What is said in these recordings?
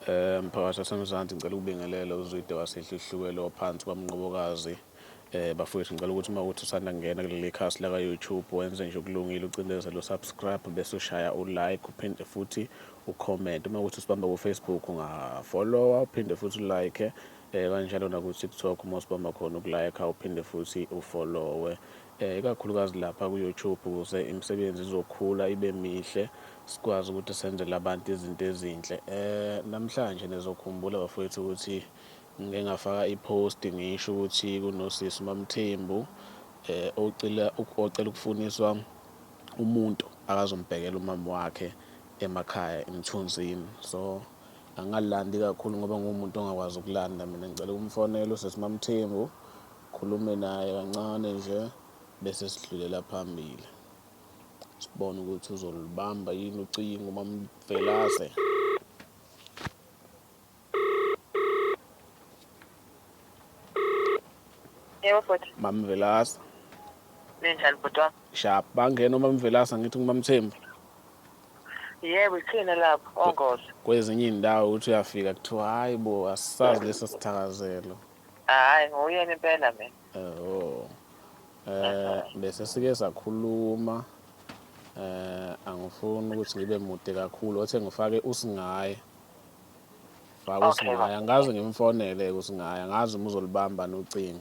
Eh, mphakathi wasemzansi ngicela ukubingelela uzwide wasedluhlukelo waphansi kwamnqobokazi eh bafowethu ngicela ukuthi uma ukuthi usanda kungena kuleli khasi laka YouTube wenze nje ukulungile ucindezele usubscribe bese ushaya ulike uphinde futhi ucomment uma ukuthi usibamba ku Facebook ungafollowa uphinde futhi ulike eh kanjalo naku TikTok uma usibamba khona ukulike uphinde futhi ufollowe Ikakhulukazi lapha ku-YouTube ukuze imisebenzi izokhula ibe mihle sikwazi ukuthi senzele abantu izinto ezinhle. Namhlanje nizokhumbula bafowethu ukuthi ngike ngafaka i-post ngisho ukuthi kunosisi uMaMthembu ocela ocela ukufuniswa umuntu akazombhekela umama wakhe emakhaya eMthunzini. So angalandi kakhulu ngoba ngumuntu ongakwazi ukulanda mina ngicela ukumfonela usisi uMaMthembu Khulume naye kancane nje bese sidlulela phambili. Sibone ukuthi uzolubamba yini ucingo uMamvelase. Yebo futhi. Mamvelase. Ninjani bhuti wami? Sharp. Bangena uMamvelase ngithi ngumamthembu. Yebo ithina lapho ongozi. Kwezinye indawo uthi uyafika kuthiwa hayi bo asisazi lesi sithakazelo. Hayi nguyena impela mina. Oh. Eh bese sike sakhuluma eh angifuni ukuthi ngibe mude kakhulu othe ngifake usingaye. Faka Okay, usingaye baba. angazi ngimfonele usingaye angazi uma uzolibamba nocingo.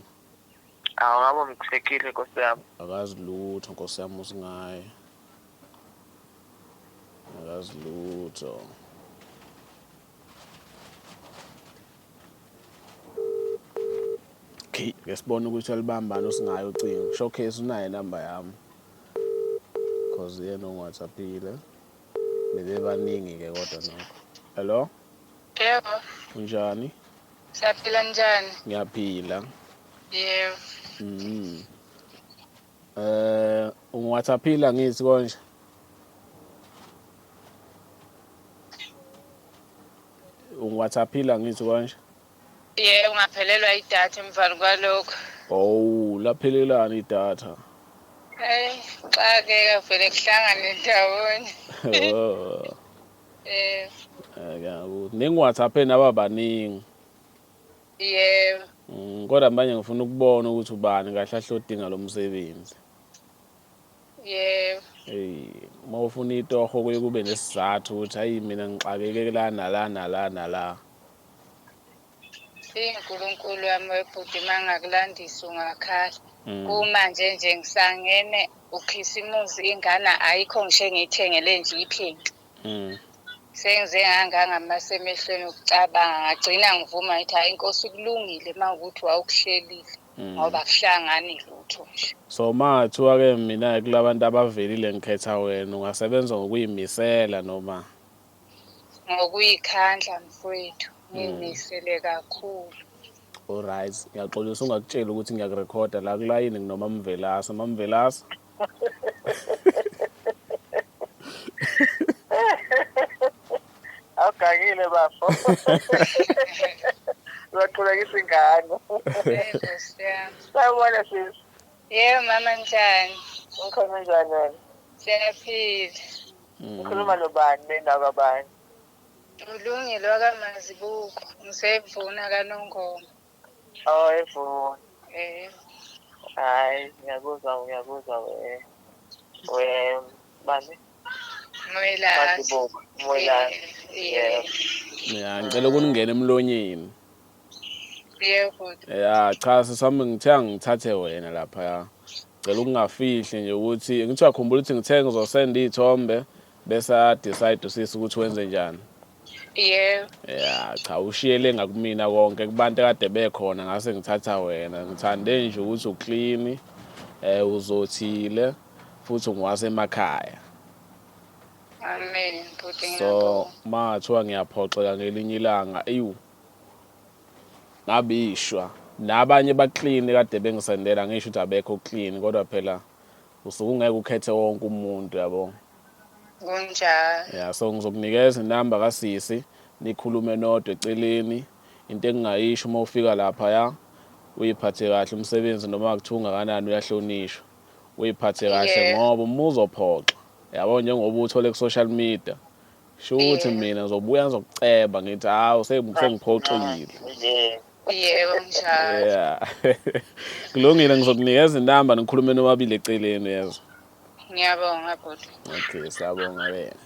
Awu ngabo mthekile Nkosi yami. Akazi lutho Nkosi yami usingaye. Akazi lutho. okay ke sibone ukuthi alibambani osingayo ucingo showcase unayo inamba yami cause yena ongiwhatsappile bebebaningi ke kodwa nokho hello yebo unjani siyaphila njani ngiyaphila yebo mm Eh ungiwhatsaphile angithi konje. Ungiwhatsaphile angithi konje. Yebo ngaphelelwa idatha emvani kwalokho. Oh laphelelani idatha. Hey xakeka vele kuhlangane ndawonye. Oh. Eh. Ake ngiwhatsapheni ababaningi. Yebo. Mm, kodwa manje ngifuna ukubona ukuthi ubani kahle ahlodinga lo msebenzi. Yebo. Hey, uma ufuna itoho kuye kube nesizathu ukuthi hayi mina ngixakeke la nala nala nala. INkulunkulu wami webhuti mangakulandisa ungakhala. Mm. Kumanje nje ngisangene ukhisimusi ingane ayikho ngisho engiyithengele nje iphenti. mm. sengize ngangangamasa emehlweni ukucabanga ngagcina ngivuma ngithi hhayi inkosi kulungile uma ukuthi wawukuhlelile mm. ngoba kuhlangani lutho nje so ma kuthiwa-ke mina-ke kula bantu abavelile ngikhetha wena ungasebenza ngokuyimisela noma ngokuyikhandla mfowethu mm. ngiyimisele kakhulu Alright, ngiyaxolisa ungakutsheli ukuthi ngiyakurekhoda la kulayini nginomamvelasa. Mamvelasa. awugangile bafo uzaqhulekisa ingane sawubona sisi yebo mama njani ngikhona njani wena siyaphila ngikhuluma nobani bendawo kabani ulungile wakamazibuko ngisevuna kanongoma Oh, evo. Eh. Hayi, ngiyakuzwa, ngiyakuzwa we. We bani? Mwela. Madibuko, Mwela. Eh, Yeah. eh. ya ngicela ukuningena emlonyeni Yebo. ya cha sisami ngithe angithathe wena lapha ya ngicela ukungafihli nje ukuthi ngithiwa khumbula ukuthi ngithe ngizosenda iy'thombe bese adecide usisi ukuthi wenze njani Yebo. Ya cha ushiyele ngakumina konke kubantu kade bekhona ngase ngithatha wena. Ngithande nje ukuthi uclean eh uzothile futhi ngiwase emakhaya. Amen bhuti So ngiyabonga. mathiwa ngiyaphoxeka ngelinye ilanga eyu ngabishwa nabanye baclean kade bengisendela ngisho ukuthi abekho clean kodwa phela usuke ungeke ukhethe wonke umuntu yabo. kunjalo yeah so ngizokunikeza inamba kasisi nikhulume nodwa eceleni into engingayisho uma ufika lapha ya uyiphathe kahle umsebenzi noma kuthiwa ungakanani uyahlonishwa uyiphathe kahle ngoba uma uzophoxa yabo njengoba uthole ku-social media shuthi mina ngizobuya ngizokuceba ngithi hawu sengiphoxile Yebo njalo. Yeah. Kulungile ngizokunikeza inamba nikhulume nobabili eceleni yezwa. Ngiyabonga bhuti. Okay, siyabonga wena.